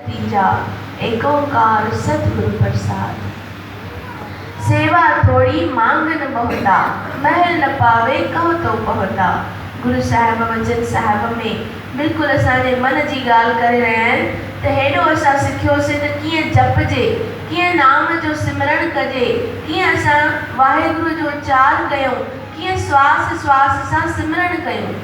تيجا ايڪونڪار ستگرو پرساد، سيوا ٿوڙي مانگ نه ٻهتا، مهل نه پاوي ڪهه تو پهتا، گرو صاحب وچن صاحب ۾ بلڪل اسان جي من جي ڳالهه ڪري رهيا آهن ته هيڏو اسان سکيوسين ته ڪيئن جپجي، ڪيئن نام جو سمرڻ ڪجي، ڪيئن اسان واهيگرو جو اچار ڪيون، ڪيئن سواس سواس سان سمرڻ ڪيون.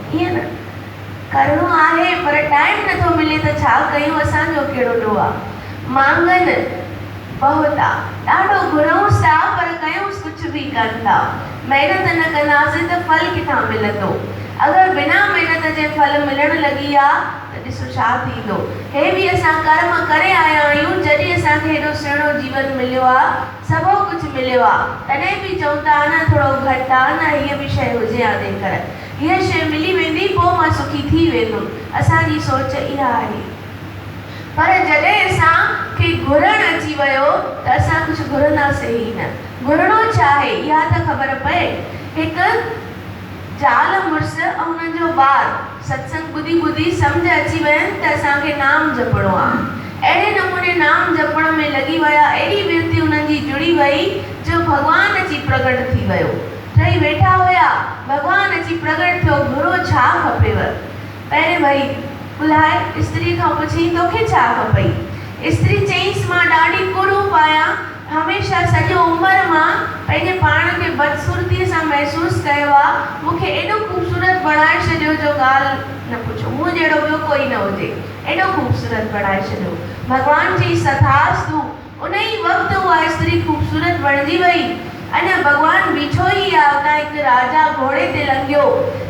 ائين نه ڪرڻو آهي پر ٽائيم نٿو ملي ته ڇا ڪيون اسان جو ڪهڙو ڏوهه آ مانگن بهت آ ڏاڍو گهرونس ٿا پر ڪيونس ڪجهه به ڪن ٿا محنت نه ڪنداسين ته ڦل ڪٿان ملندو اگر بنا محنت جي ڦل ملڻ لڳي آ ته ڏسو ڇا ٿيندو هي به اسان ڪرم ڪري آيا آهيون جڏهن اسان کي هيڏو سهڻو جيون مليو آ سڀو ڪجهه مليو آ تڏهن به چئون ٿا نه ٿورو گهٽ آ نه هيء به شئي هجي آ جيڪر هيء شيء ملي ويندي پوء مان سکي ٿي ويندم اسان جي سوچ اها آهي پر جڏهن اسان کي گهرڻ اچي ويو ته اسان ڪجهه گهرنداسين ئي نه گهرڻو ڇا آهي اها ته خبر پئي هڪ زال مڙس ۽ انهن جو ٻار ستسنگ ٻڌي ٻڌي سمجهه اچي وين ته اسان کي نام جپڻو آهي اهڙي نموني نام جپڻ ۾ لڳي ويا ايڏي ورتي انهن جي جڙي وئي جو ڀڳوان اچي پرگٽ ٿي ويو ٺهي ويٺا هيا، ڀڳوان اچي پرڳٽ ٿيو، گهرو ڇا کپيو؟ پهرين وري ڪلهائي استري کان پڇيائين، توکي ڇا کپئي؟ استري چيائينس، مان ڏاڍي ڪروپ آهيان، هميشه سڄو عمر مان پنهنجي پاڻ کي بدصورتيء سان محسوس ڪيو آ، مون کي ايڏو خوبصورت بڻائي ڇڏيو جو ڳالهه نه پڇو، مون جهڙو ٻيو ڪوئي نه هجي، ايڏو خوبصورت بڻائي ڇڏيو، ڀڳوان چيائينس، تٿاستو! انهيء وقت اها استري خوبصورت بڻجي ويئي. اڃ ڀڳوان بيٺو ئي آ، اتان هڪ راجا گهوڙي تي لنگهيو.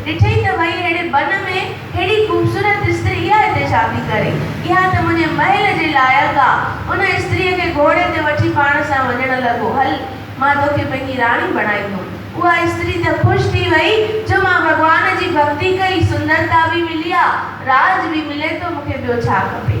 ڏٺئي ته ڀئي اهڙي بن ۾ هيڏي خوبصورت استري اها هتي ڇا ٿي ڪري؟ اها ته منهنجي محل جي لائق آ. ان استريء کي گهوڙي تي وٺي پاڻ سان وڃڻ لڳو. هل، مان توکي پنهنجي راڻي بڻائيندم. اها استري ته خوش ٿي ويئي جو مان ڀڳوان جي ڀڳتي ڪئي، سندرتا به ملي آ، راڄ به ملي ٿو، مون کي ٻيو ڇا کپي؟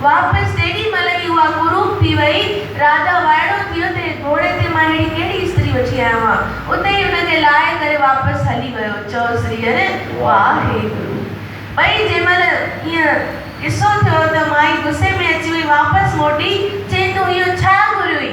واپس جيڏي مھل ئي اھا قروب ٿي وئي، راجا وائڙو ٿي ويو ته اھي گھوڙي تي مان اھڙي ڪھڙي استري وٺي آيو آھيان. اتي ئي ان کي لاھي ڪري واپس ھلي ويو. چؤ سري ھر واحيگرو. ٻئي جنھن مھل ايئن قصو ٿيو ته مائي غصي ۾ اچي وئي واپس موٽي چيائين تون اھو ڇا گھريوئي؟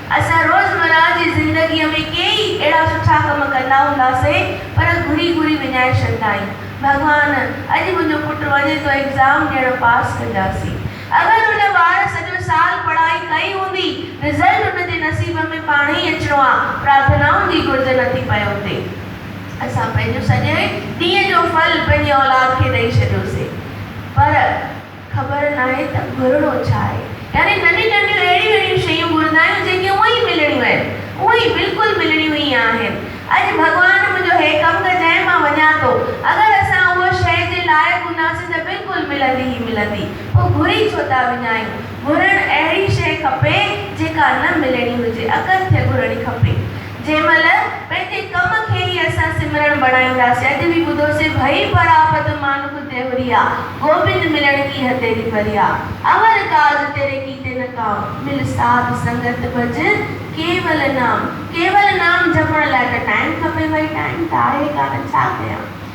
اسان روزمرهه جي زندگيء ۾ ڪيئي اهڙا سٺا ڪم ڪندا هونداسين پر گهري گهري وڃائي ڇڏندا آهيون، ڀڳوان! اڄ منهنجو پٽ وڃي ٿو ايگزام ڏيڻ پاس ڪجاسين. اگر ان ٻار سڄو سال پڙهائي ڪئي هوندي، رزلٽ ان جي نصيب ۾ پاڻهي ئي اچڻو آ، پرارٿنائن جي گهرج نه ٿي پئي هوندي. اسان پنهنجو سڄي ڏينهن جو ڦل پنهنجي اولاد کي ڏئي ڇڏيوسين پر. خبر ناهي ته گهرڻو ڇا آهي. يعني ننڍيون ننڍيون اهڙيون اهڙيون شيون گهرندا آهيون جيڪي اونء ئي ملڻيون آهن. اونء ئي بلڪل ملڻيون ئي آهن. اڄ ڀڳوان منهنجو هي ڪم ڪر جنهن مان وڃان ٿو. اگر اسان اهو شيء جي لائق هونداسين ته بلڪل ملندي ئي ملندي. پوء گهري ڇو ٿا وڃايون. گهرڻ اهڙي شيء کپي جيڪا نه ملڻي هجي. اڪٿ ٿئي گهرڻي کپي. جنهن مهل پنهنجي ڪم کي ئي اسان سمرڻ بڻائينداسين. اڄ به ٻڌوسين، ڀئي پراپت مانوڪ تيوريا، گوبند ملڻ ڪي هه تيري پريا، امر ڪاج تيري ڪيتي نه ڪام، مل ساڌ سنگت ڀج ڪيول نام. ڪيول نام جپڻ لاء ته ٽائيم کپي، ڀئي ٽائيم ته آهي ڪانه، ڇا ڪيان.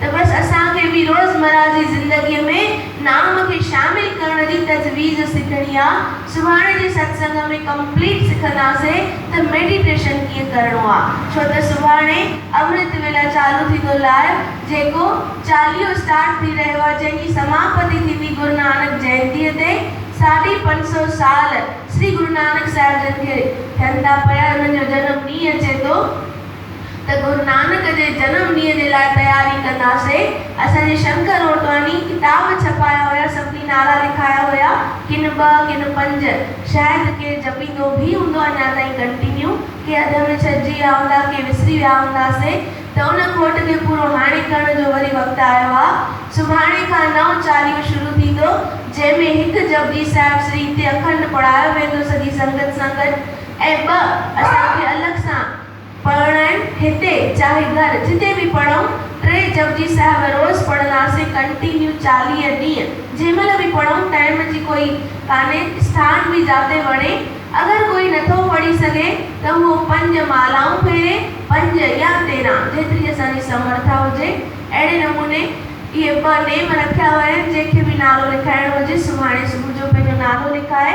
ته بس اسان کي به روزمره جي زندگي ۾ نام کي شامل ڪرڻ جي تجويز سکڻي آ، سڀاڻي جي ستسنگ ۾ ڪمپليٽ سکنداسي ته ميڊيٽيشن ڪيئن ڪرڻو آ ڇو ته سڀاڻي امرت ويلا چالو ٿيندو لائيو جيڪو چاليهو اسٽارٽ ٿي رهيو آ جنهن جي سماپتي ٿيندي گرونانڪ جينتي تي ساڍي پنج سو سال شري گرونانڪ صاحب جن کي ٿين ٿا پيا انهن جو جنم ڏينهن اچي ٿو. ته گرونانڪ جي جنم ڏينهن جي لاء تياري ڪنداسين، اسان جي شنڪر اوٽواني ڪتاب ڇپايا هيا، سڀني نعرا لکايا هيا، ڪن ٻه ڪن پنج، شايد ڪير جپيندو به هوندو اڃا تائين ڪنٽينيو، ڪي اڌ ۾ ڇڏجي ويا هوندا، ڪي وسري ويا هونداسين ته ان کوٽ کي پورو هاڻي ڪرڻ جو وري وقت آيو آ، سڀاڻي کان نئون چاليهو شروع ٿيندو، جنهن ۾ هڪ جپجي صاحب سري تي اکنڊ پڙهايو ويندو سڄي سنگت سان گڏ ۽ ٻه اسان کي الڳ سان. پڙهڻ آهن هتي چاهي گهر جتي به پڙهون ٽي جپجي صاحب روز پڙهنداسين ڪنٽينيو چاليهه ڏينهن جنهن مهل به پڙهون ٽائيم جي ڪوئي ڪانهي اسٿان به جاتي وڻي اگر ڪوئي نٿو پڙهي سگهي ته هو پنج مالائون ڦيري پنج يا تيرهن جيتري اسان جي سمرٿا هجي اهڙي نموني اهي ٻه نيم رکيا ويا آهن جنهن کي به نالو لکائڻو هجي سڀاڻي صبح جو پنهنجو نالو لکائي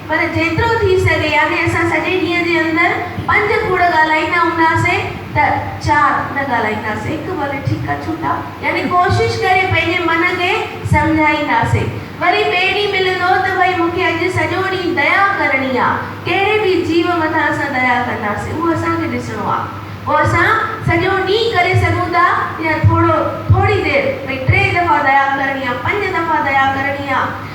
پر جيترو ٿي سگهي يعني اسان سڄي ڏينهن جي اندر پنج کوڙ ڳالهائيندا هونداسين ته چار نه ڳالهائينداسين هڪ ڀلي ٺيڪ آ ڇوٽا يعني ڪوشش ڪري پنهنجي من کي سمجهائينداسين وري ٻئي ڏينهن ملندو ته ڀئي مون کي اڄ سڄو ڏينهن ديا ڪرڻي آ ڪهڙي به جيو مٿان اسان ديا ڪنداسين اهو اسان کي ڏسڻو آ پوء اسان سڄو ڏينهن ڪري سگهون ٿا يا ٿورو ٿوري دير ڀئي ٽي دفعا ديا ڪرڻي آ پنج دفعا ديا ڪرڻي آ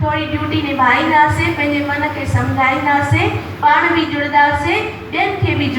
ٿوري ڊيوٽي نڀائينداسين، پنهنجي من کي سمجهائينداسين، پاڻ به جڙنداسين، ٻين کي به جڙ.